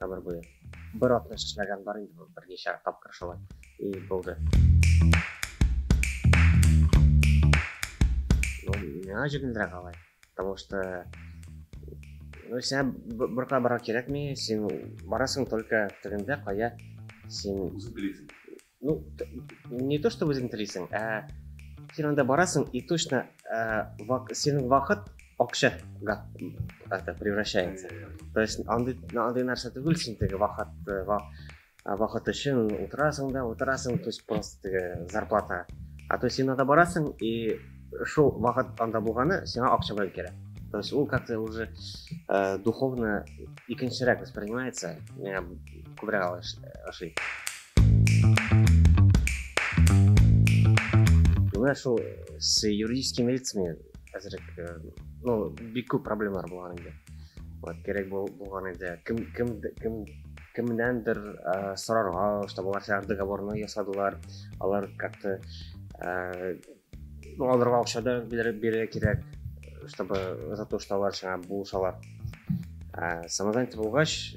Тамыр буе. Бер атна чәчмәгән бар инде бу, берничә тапкыр шулай и булды. Ну, миңа җиңелрәк алай. Потому что ну, сиңа борка бара кирәкми, син барасың только тегендә, кая син... Үзең телисең. Ну, не то, что үзең телисең, ә син анда барасың и точно ә, вак, синең вакыт акча это превращается. То есть андый андый нәрсә түгел, син теге вакыт э, вак, вакыт өчен утырасың да, утырасың, то есть просто теге зарплата. А то син анда барасың и шул вакыт анда булганы сиңа акча белән керә. То есть ул как-то уже э, духовно икенчерәк воспринимается. Меня кубрял ошибка. Менә шул с юридический милициямен әзрәк, ну, бик күп проблемалар булган инде. Вот, кирәк булган инде. Кем кем кем кемнәндер ә, сорарга, чтобы алар сәгать договорны ясадылар. Алар как-то ә, ну, аларга акча да бирергә кирәк, чтобы за то, что алар шуңа булышалар. Ә, самозанятый булгач,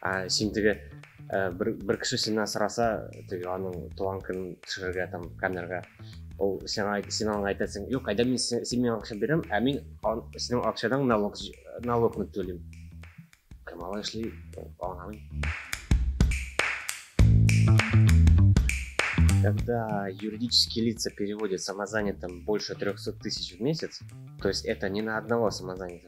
Ә син теге бер, бер кеше синнән сораса, теге аның туган көнен төшерергә там камерага. Ул сиңа син аңа әйтәсең, "Юк, әйдә мин син, син миңа акча бирәм, ә мин ан, синең акчадан налог налогны түлим." Кем ала эшли, аңламыйм. Когда юридические лица переводят самозанятым больше 300 тысяч в месяц, то есть это не на одного самозанятого,